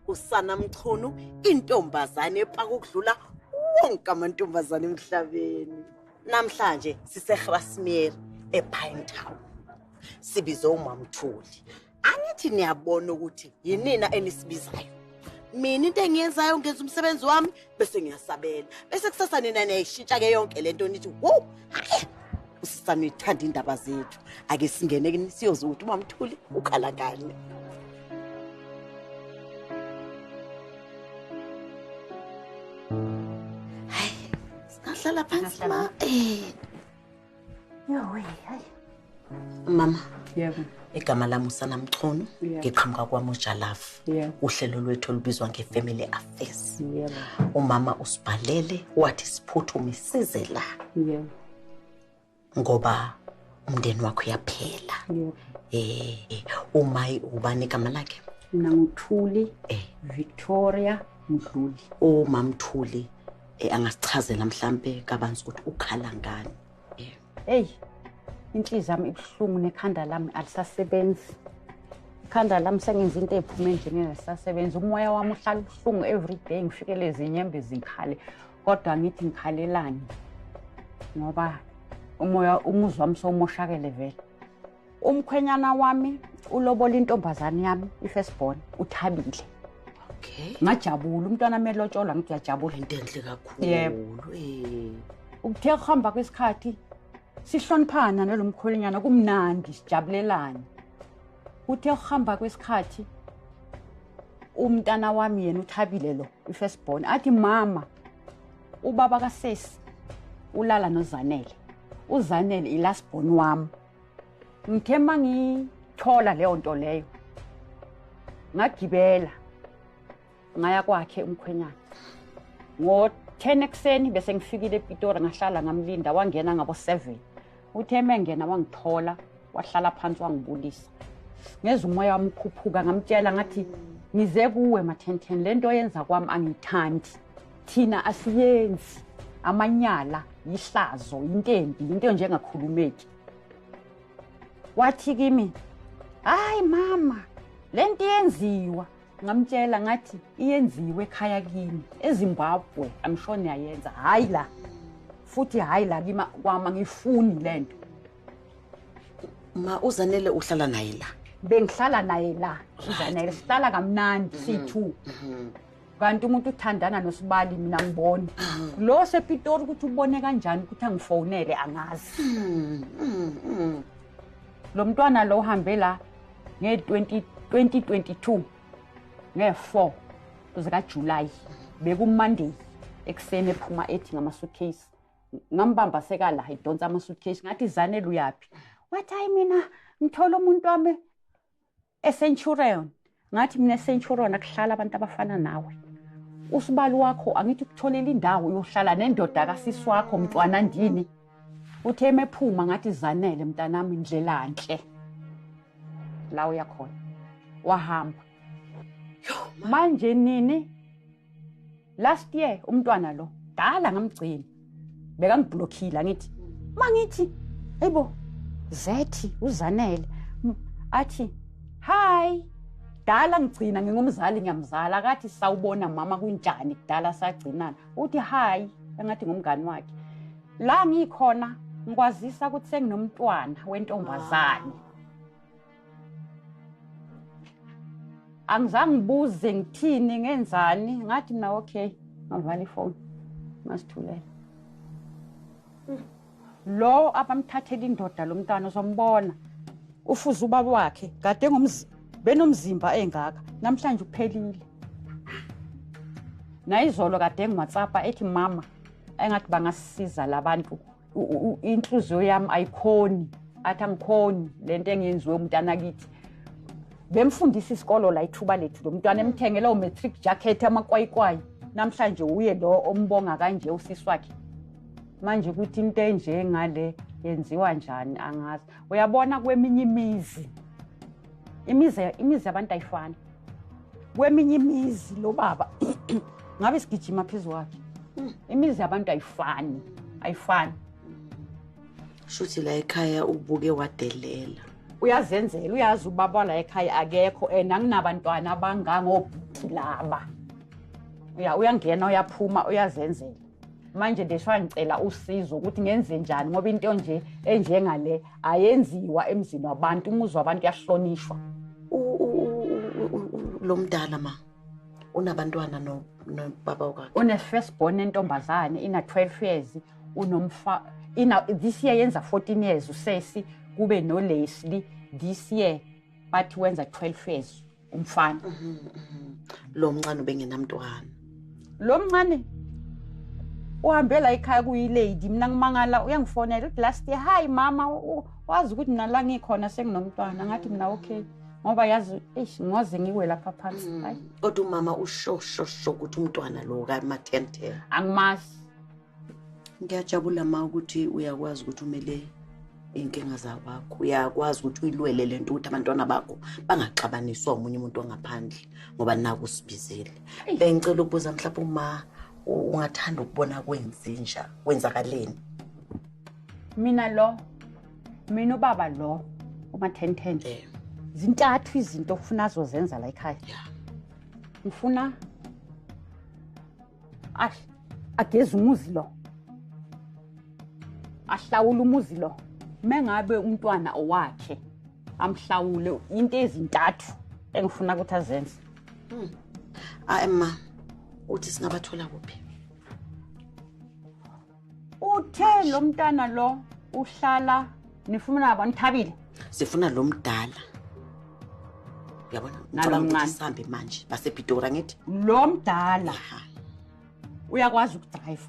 usana mchunu intombazane epaka ukudlula wonke amantombazane emhlabeni namhlanje sisegrasmier epine town sibize umamthuli angithi niyabona ukuthi yinina enisibizayo mina into engiyenzayo ngenza umsebenzi wami bese ngiyasabela bese kusasa nina niyayishintsha ke yonke lento nithi wo usisa nithanda indaba zethu ake singene kini siyoze ukuthi umamthuli ukhala ngani hayi singahlala phansi ma eh mama yebo igama lami usana mchunu ngiqhamuka kwamojalafu uhlelo lwethu olubizwa nge-family affairs umama usibhalele wathi siphuthume size la ngoba umndeni wakho uyaphela um umayi ubani igama lakhe mna nguthuli eh. victoria mdluli umamthuli oh, Eh angasichazela mhlambe kabanzi ukuthi ukhala ngani. Eh. Hey. Inhliziyo yami ibuhlungu nekhanda lami alisasebenzi. Ikhanda lami sengenza into ephume nje ngingasasebenzi. Umoya wami uhlala ubuhlungu every day ngifike lezi nyembe zikhale. Kodwa ngithi ngikhalelani. Ngoba umoya umuzwa wami somoshakele vele. umkhwenyana wami ulobola intombazane yami i-first born uthabile okay ngajabula umntwana melotsholwa ngithi uyajabula into enhle kakhulu eh. ukuthe kuhamba kwesikhathi sihloniphana nalo mkhwenyana kumnandi sijabulelane kuthe kuhamba kwesikhathi umntana wami yena uthabile lo i-first born athi mama ubaba kasesi ulala nozanele uzanele i-last born wami ngithe uma ngithola leyo nto leyo ngagibela ngaya kwakhe umkhwenyana ngo-ten ekuseni bese ngifikile epitori ngahlala ngamlinda wangena ngabo-seven uthe mengena wangithola wahlala phansi wangibulisa ngeza umoya wami ukhuphuka ngamtshela ngathi ngize kuwe mathenthen le nto yenza kwami angiyithandi thina asiyenzi amanyala yihlazo intembi into enjengakhulumeki wathi kimi hayi mama le nto iyenziwa ngamtshela ngathi iyenziwe ekhaya kimi ezimbabwe amshoni yayenza hhayi la futhi hhayi la kima kwama ngiyifuni le nto ma uzanele uhlala naye la bengihlala naye la uzanele sihlala kamnandi siyi-two mm-hmm. kanti umuntu uthandana nosibali mina ngiboni lo sepitori ukuthi ubone kanjani ukuthi angifonele angazi lo mntwana lo uhambe la nge-2022 nge-4 zikajulayi bekumonday ekuseni ephuma ethi ngama-suitcase ngambamba sekala idonsa ama-suitcase ngathi zanele uyaphi wathi hayi mina ngithole umuntu wami eCenturion ngathi mina eCenturion akuhlala abantu abafana nawe usibali wakho angithi ukutholela indawo yohlala nendoda kasisi wakho mntwana ndini uthe emephuma ngathi zanele mntanami indlela nhle la uyakhona wahamba manje nini last year umntwana lo dala ngamgcina bekangiblokhile angithi mangithi ayibo zethi uzanele athi hi dala ngigcina ngingumzali ngiyamzala akathi sawubona mama kunjani kudala sagcinana uthi hi engathi ngumngani wakhe la ngikhona ngikwazisa ukuthi senginomntwana wentombazane angizange ngibuze ngithini ngenzani ngathi mina okay ngavala ifoni ngasithulela lo abamthathela indoda lo mntwana uzombona ufuze ubaba wakhe kade benomzimba engaka namhlanje uphelile nayizolo kade engiwhatsappa ethi mama engathi bangasisiza labantu inhliziyo yami ayikhoni athi angikhoni le nto engenziwe umntana kithi bemfundisa isikolo la ithuba lethu lo mntwana emthengela umatric jacket amakwayikwayi namhlanje uye lo ombonga kanje usisi wakhe manje ukuthi into enjengale yenziwa njani angazi uyabona kweminye imizi imizi imizi yabantu ayifani kweminye imizi lo baba ngabe sigijima phezu kwakhe imizi yabantu ayifani ayifani shuthi la ekhaya ubuke wadelela uyazenzela uyazi ubaba la ekhaya akekho and anginabantwana abangangobhuti laba uya uyangena uyaphuma uyazenzela manje nje shwa ngicela usizo ukuthi ngenze njani ngoba into nje enjengale ayenziwa emzini wabantu umuzi wabantu yahlonishwa lo mdala ma unabantwana nobaba wakhe une-first born entombazane ina-12 years unomfa ina this year yenza 14 years usesi kube nolesli this year bathi wenza 12 years umfana mhm, mhm. lo mncane ubengenamntwana lo mncane uhambe la ekhaya kuyilady mina ngimangala uyangifonela uthi last year hayi mama wazi ukuthi mina la ngikhona senginomntwana ngathi mina okay ngoba yazi eish ngoze ngiwe lapha phansi mm. kodwa umama usho sho sho ukuthi umntwana lo ka mathen ten angimazi ngiyajabula ma ukuthi uyakwazi ukuthi umele iy'nkinga zakwakho uyakwazi ukuthi uyilwele le nto ukuthi abantwana bakho bangaxabaniswa omunye umuntu ongaphandle ngoba naku usibizile bengicela ukubuza mhlawumbe uma ungathanda ukubona kwenzenja kwenzakaleni mina lo mina ubaba lo umathenten eh. zintathu izinto ofuna azozenza la ekhaya ngifuna ash ageza umuzi lo ahlawula umuzi lo mengabe umntwana owakhe amhlawule into ezintathu engifuna ukuthi azenze hmm. ayi ma uthi singabathola kuphi uthe lo mntana lo uhlala nifuna ba nithabile sifuna lo mdala uyabona nalomncane sambe manje basepitora ngithi lo mdala uyakwazi ukudrive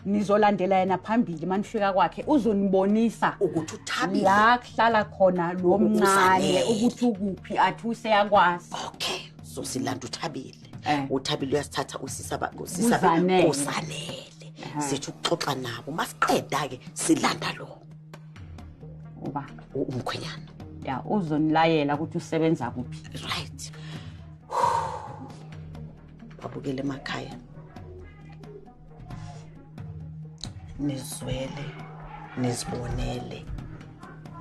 nizolandela yena phambili manifika kwakhe uzonibonisa ukuthi uthabile la kuhlala khona lo mncane ukuthi ukuphi athi useyakwazi okay so silanda uthabile Eh. uthabile uyasithatha usisa ba- usisa ba- Kuzanele. kuzanele Ehhe. sithi ukuxoxa nabo masiqeda-ke silanda lo uba u- umkhwenyana ya uzonilayela ukuthi usebenza kuphi right babukele emakhaya nizwele nizibonele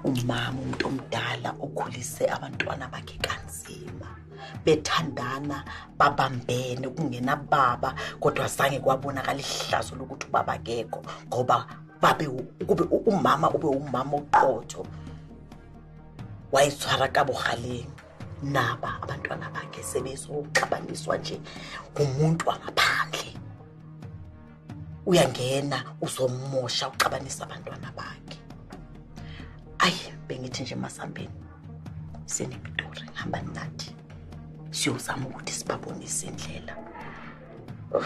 umama umuntu omdala okhulise abantwana bakhe kanzima bethandana babambene kungena baba kodwa zange kwabonakala ihlazo lokuthi ubaba kekho ngoba babe kube umama ube umama oqotho wayitshwara ka bogaleng naba abantwana bakhe sebezoxabaniswa nje ngumuntu wangaphandle uyangena uzomosha uxabanisa abantwana bakhe ayi bengithi nje masambeni sinemiduri hamba nathi siyozama ukuthi sibabonise indlela oh.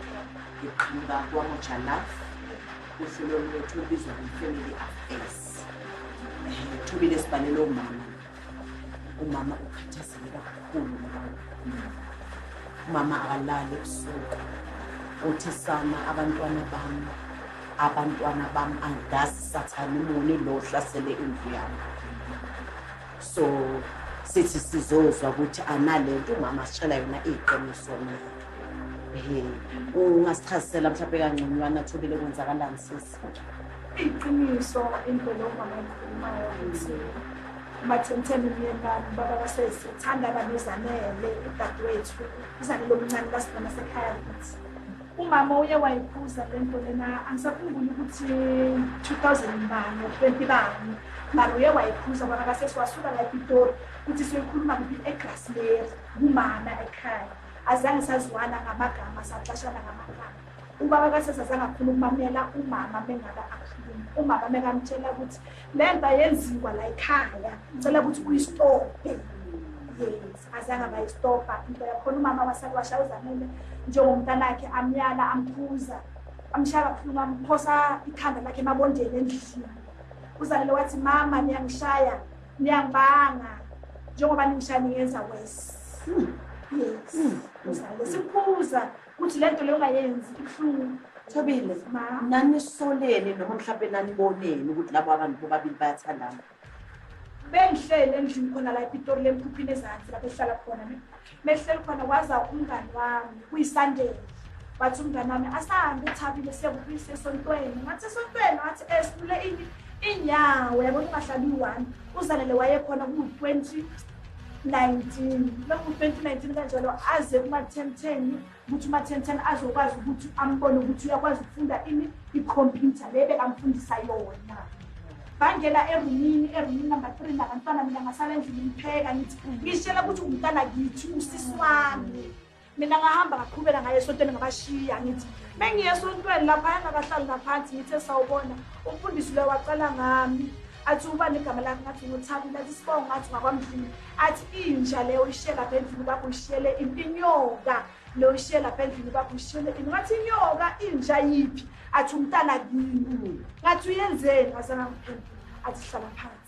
ngiqhamuka kwamoja love uhlelo lwethu olubizwa nge-family affairs um thobile sibhalele umama umama ukhathazele kakhulu umama akalali ebusuku uthi sana abantwana bami abantwana bami angazi sathane muni lo hlasele indlu yami so sithi sizozwa ukuthi analento umama sitshela yona iqiniso na ehe ungasichazisela mhlawumbe kangconywana thobile kwenzakalani sisi iqiniso indlela umama ekhulumayo ukuthi umathemtheni umyeni bami ubaba kasesi uthanda abantu uzanele udadewethu uzanele omncane basibona sekhaya kithi Umama uye wayiphuza le nto lena angisakhumbuli ukuthi 2000 bani 20 bani mara uye wayiphuza bona kasesiwasuka la epitori ukuthi siyoyikhuluma kuphi egrasmeri kumama ekhaya azange saziwana ngamagama saxashana ngamagama ubaba kasesazange akhuluma kumamela umama mengaba akhuluma umama mekamtshela ukuthi Lemba yenziwa la ekhaya. Ngicela ukuthi uyistophe. Yes, azange bayistopha into yakhona umama wasakwasha uzamile njengomntanakhe amyala amphuza amshaya kabuhlungu amphosa ikhanda lakhe emabondeni endlini uzalele wathi mama niyangishaya niyangibanga njengoba ningishaya ningenza wesi hmm. yes hmm. uzalele siphuza Uthi lento le ungayenzi ibuhlungu. Thobile, nanisoleni noma mhlawumbe naniboneni ukuthi labo abantu bobabili bayathandana. Bengihlele endlini khona la ePitori lemkhuphini ezansi lapho ehlala khona ne. Mehlele khona waza umngani wami kuyisandele. Wathi umngani wami asahambe uthabile siyakubuyisa esontweni. Ngathi esontweni wathi esule eh, ini inyawo yabona ungahlali u-1 uzanele wayekhona ku-20 19 lapho 2019 kanjalo aze kumathemtheni ukuthi umathemtheni azokwazi ukuthi ambone ukuthi uyakwazi ukufunda ini ikhompyutha le bekamfundisa yona bangena erumini erumini number three nabantwana mina ngasala endlini ngipheka ngithi ngishela ukuthi umntana kithi usisi wami mina ngahamba ngaqhubela ngaye esontweni ngabashiya ngithi mengiye esontweni lapha engakahlali ngaphansi ngithe sawubona umfundisi loyo wacala ngami athi uba negama lakhe ngathi ngothabi lathi sibongo ngathi ngakwamdlini athi inja leyo uyishiye lapha endlini bakho uyishiyele inyoka leyo uyishiye lapha endlini bakho uyishiyele ini ngathi inyoka inja yiphi athi umntana kini ngathi uyenzeni azangamphembi athi hlala phansi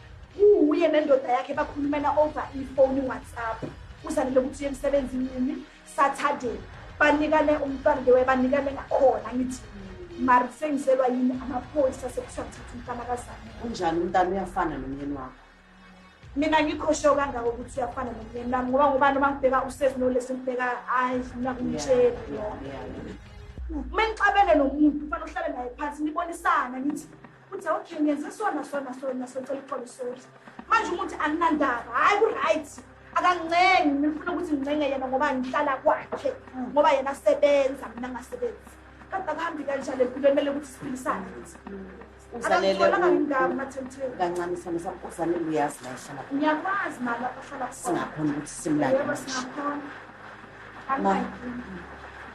uwuye nendoda yakhe bakhulumela over ifoni whatsapp uzanele ukuthi uye emsebenzini nini saturday banikane umntwana lewe banikane ngakhona ngithi mari sengiselwa yini amaphoyisa sekuthiwa ngithatha umntana kazane unjani umntana uyafana nomyeni wakho mina ngikhoshe kangako ukuthi uyafana nomyeni wami ngoba ngoba noma ngibheka usesi nolesi ngibheka hayi mina kumtsheli uma ngixabene nomuntu kufanele uhlale naye phansi nibonisana ngithi Uthi okay ngenze sona sona sona socela uxolo sorry. Manje umuthi anginandaba. Hayi ku right. Akancengi ngifuna ukuthi ngincenge yena ngoba ngihlala kwakhe hmm. ngoba yena sebenza mina ngasebenzi. Kanti akuhambi kanjalo empilweni mele ukuthi siphilisane ukuthi. kancane sana sakuzanele uyazi la ehlala ngiyakwazi mali lapho hlala khona singakhona ukuthi simlande yebo singakhona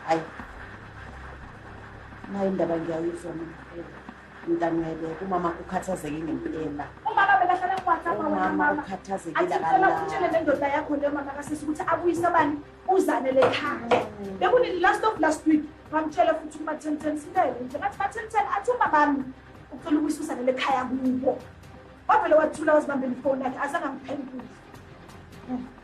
hayi nayo indaba ngiyayizwa mntanele umama ukhathazeke ngempela umama bekahlala kuwhatsapp umama ukhathazekile akalala nendoda yakho leyo mama kasisi ukuthi abuyise abani uzane le khaya mm. bekunini last of last week bamtshela futhi ukuba ten ten sintele nje ngathi ba-ten ten athi umamami ucela ukuyisa uzane le khaya kubo wavele wathula wazibambela ifoni yakhe azange angiphendule mm.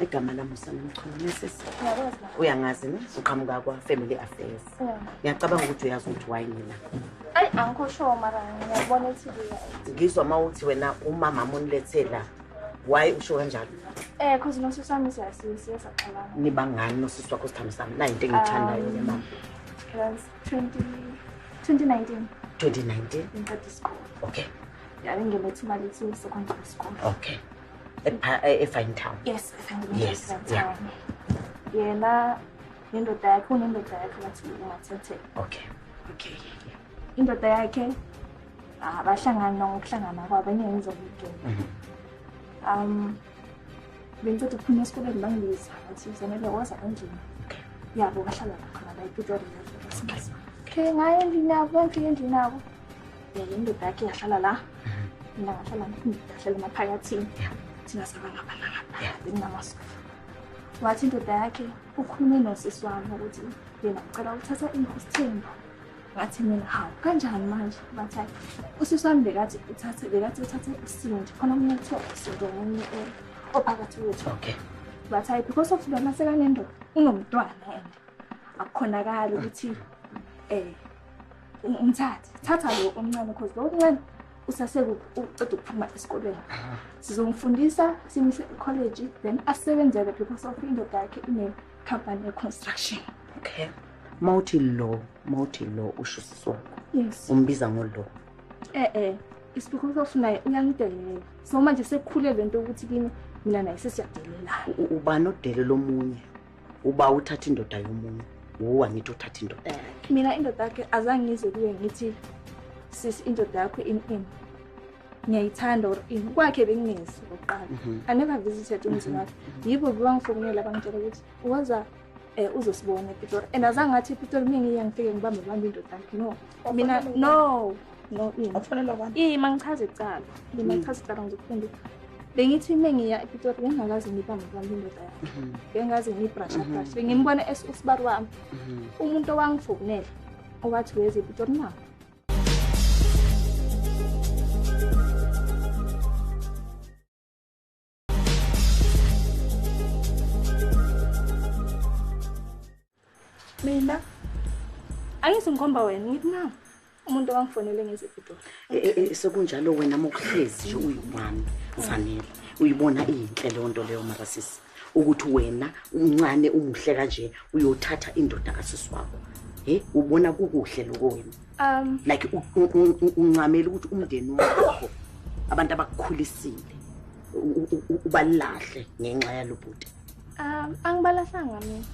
igama lami usanomchulumesis uyangazi ne uqhamuka kwa-family affairs ngiyacabanga ukuthi uyazi ukuthi wayi mina ayi angikushowo mara ngiyabona ukuthi ngizwa uma uthi wena umama munilethe la waye usho kanjalo eh cause nosisi wami siyasaxabana niba ngani nosisi wakho sithambi sami nayi into engiyithandayo um, mama 2019 2019 ngiqeda isikole okay yabengele thuma lethu secondary school okay efine town yes yes yeah yena nendoda yakhe unendoda yakhe bathi umathethe okay okay indoda yakhe ah, bahlangana ngokuhlangana kwabo enye ngizokugena mhm. um bengiceda ukuphuma esikoleni bangibiza bathi zanele woza endlini yabo bahlala khona la epitori okay ngaye endlini yabo bangifike endlini yabo yena indoda yakhe yahlala la mina ngahlala ngahlala emaphakathini thina saba ngapha nangapha benginamasofa wathi indoda yakhe ukhulume nosisi wami ukuthi yena ucela ukuthatha isithembu ngathi mina hawu kanjani manje bathi hayi usisi wami bekathi uthathe bekathi uthathe isindi khona omunye kuthiwa isindi omunye ophakathi kwethu okay bathi hayi because of lona sekanendoda unomntwana and akukhonakali ukuthi um Umthathe. Thatha lo omncane because lo omncane usaseke uceda ukuphuma esikolweni. Sizomfundisa simuse ecollege then asebenzele because of indoda yakhe ine company ye construction. Okay. Mawuthi lo, mawuthi lo usho sisongo. Yes. Umbiza ngolo. Eh eh. Isibuko sofu naye uyangidelela. So manje sekukhule lento ukuthi kimi mina naye sesiyadelelana. Ubani odele lomunye? uba uthatha indoda yomunye wuwa ngithi uthatha indoda eh, yakhe mina indoda yakhe azange ngizwe kuye ngithi sisi indoda yakho in in ngiyayithanda or in kwakhe bengingezi okokuqala mhm. i never visited umzini mhm. wakhe yibo bebangifonela bangitshela ukuthi waza um eh, uzosibona epitori and azange athi epitori mina ngiyangifike ngibambe bambe indoda yakhe no mina no no iyi mangichaza icala mina mm. ngichaza icala ngizokufunda bengithi uma ngiya epitori bengingakaze ngibambe kwami indoda yakhe mm-hmm. bengikaze ngiyibrasha mm-hmm. brasha bengimbona usibari wami mm-hmm. umuntu owangifokunela owathi weze epitori na mina angithi ngikhomba wena ngithi na umuntu wangifonele ngezepitori eh, eh, eh, sekunjalo wena mokuhlezi nje uyiwami zanele uyibona iyinhle leyo nto leyo marasisi ukuthi wena uncane umuhle kanje uyothatha indoda kasisi wakho he ubona kukuhle loko wena um like uncamela ukuthi umndeni wakho abantu abakukhulisile ubalahle ngenxa yalobhuti um angibalahlanga mina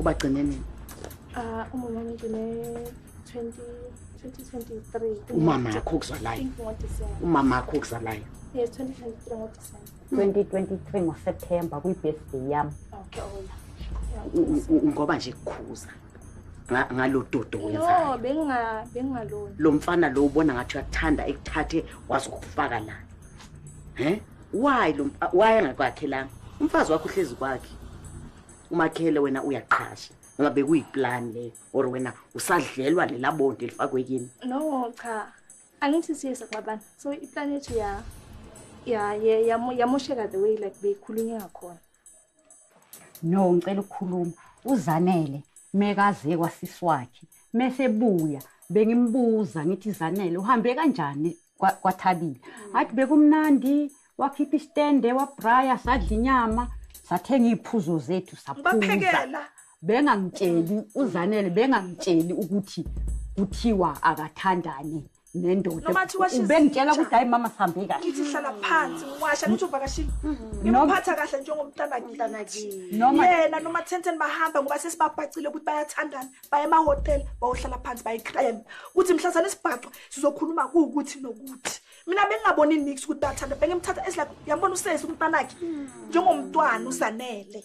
ubagcine nini uh umama ngigcine 20 2023 umama yakho kuzalayo umama yakho kuzalayo yes 2023 ngoDecember 2023 ngoSeptember kwi-birthday yami okay ngoba nje kukhuza ngalododo wenzayo bengingalona lo mfana lo ubona ngathi uyakuthanda ekuthathe wazokufaka la he why lo why angakwakhelanga umfazi wakho uhlezi kwakhe umakhele wena uyaqhasha ngoba bekuyiplan le or wena usadlelwa lela bonto elifakwe kini no cha angithi siyeza kwabana so iplan yethu ya ya yamosheka the way like beyikhulunywa ngakhona no ngicela ukukhuluma uzanele mekaze kwasisi wakhe mesebuya bengimbuza ngithi zanele uhambe kanjani kwathabile athi bekumnandi wakhipha isitende wabraya sadla inyama sathenga iy'phuzo zethu saphuza bengangitsheli uzanele bengangitsheli ukuthi kuthiwa akathandani nendoda Noma thiwa she's ubengitshela teacher. ukuthi hayi mama sihambe kahle ngithi hlala phansi ngiwasha ngithi uvakashile ngimuphatha kahle njengomntana kithi Noma- yena noma thenten bahamba ngoba sesibabhacile ukuthi bayathandana baye emahhotela bayohlala phansi bayikreme kuthi mhla sane sibhacwa sizokhuluma kuwukuthi nokuthi mina bengingaboni nix ukuthi bayathanda bengimthatha esilak yambona usesi umntanakhe njengomntwana usanele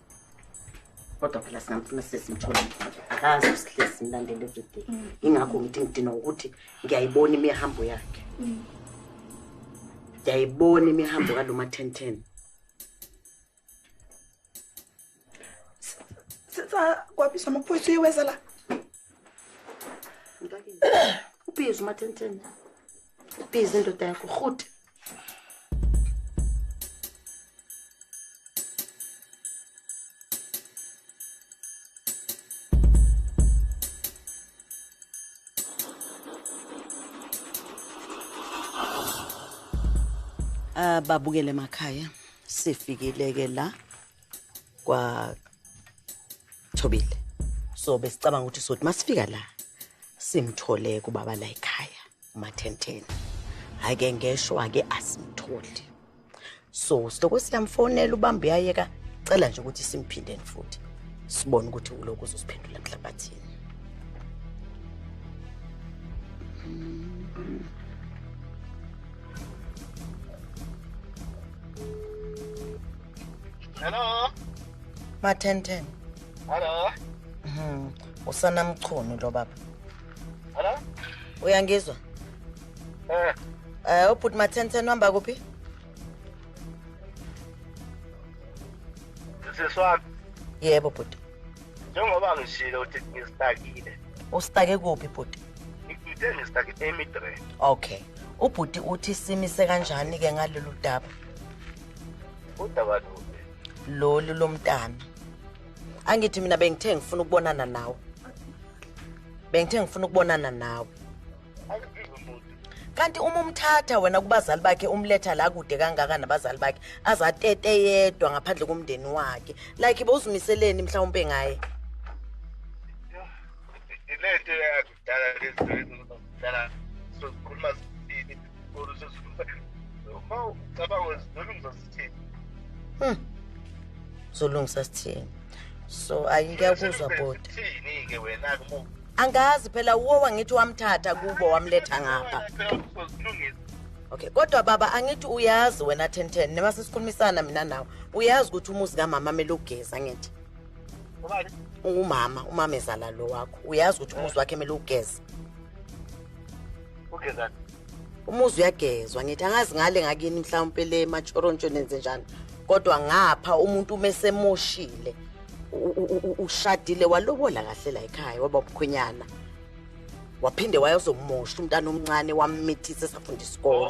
kodwa phela singamfuna sesimthole akazi usihlezi simlandele everyday ingakho ngithi ngidinwa ukuthi ngiyayibona imihambo yakhe ngiyayibona imihambo kalo ma-ten ten kwabizwa amaphoyisa uyeweza la ubiza uma-ten ten ubiza indoda yakho rhuti ababukele ah, emakhaya sifikile ke la kwa Thobile so besicabanga ukuthi sothi masifika la simthole kubaba la ekhaya umathentheni hhayi ke ngeshwa-ke asimtholi so siloko siyamfonela ubambe uyayeka cela nje ukuthi simphindeni futhi sibone ukuthi ulokhu uzosiphendula nhlabathini Hello. Mathenten. Hello. Mhm. Usana mchunu lo baba. Hello? Uyangizwa? Eh. Eh, ubhuti Mathenthe uhamba kuphi? Siswami. Yebo bhuti. Njengoba ngishilo ukuthi ngistakile. Usitake kuphi bhuti? Ngithe ngisitake eMidre. Okay. Ubhuti uthi simise kanjani ke ngalolu daba? Udaba lolu. Lolu lomntana. angithi mina bengithe ngifuna ukubonana nawe bengithe ngifuna ukubonana nawe kanti uma umthatha wena kubazali bakhe umletha la kude kangaka nabazali bakhe azatete yedwa ngaphandle komndeni wakhe like bowuzimiseleni mhlawumpe ngaye ilento yakhe zidala lezi zidala sozikhuluma zithini or sozikhuluma uma ucabanga zizolungisa zithini hmm. zolungisa sithini so ayi ngiyakuzwa boti thini-ke wena-ke uma angazi phela uwo wangithi wamthatha kubo wamletha ngapha okay kodwa baba angithi uyazi wena ten ten neba sesikhulumisana mina nawe uyazi ukuthi umuzi kamama amele ugeza ngithi ungumama umama ezala lo wakho uyazi ukuthi umuzi wakhe kumele ugeze ugezani umuzi uyagezwa ngithi angazi ngale ngakini mhlawumpe le matshorontshoni enze njani kodwa ngapha umuntu uma esemoshile ushadile walobola kahle la ekhaya waba umkhwenyana waphinde wayozomosha umntana omncane wammithisa esafunda isikole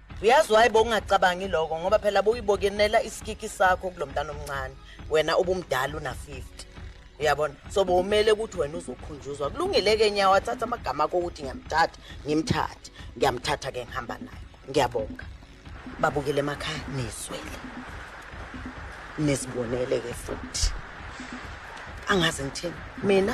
uyazi waye bowungacabangi loko ngoba phela bowuyibokenela isikiki sakho kulo mntana omncane wena ubumdala una-50 uyabona so bowumele ukuthi wena uzokhunjuzwa kulungile-ke nyawo athatha amagama akho ukuthi ngiyamthatha ngimthathe ngiyamthatha-ke ngihamba naye ngiyabonga babukele emakhaya nizwele nizibonele-ke futhi angazi ngithini mina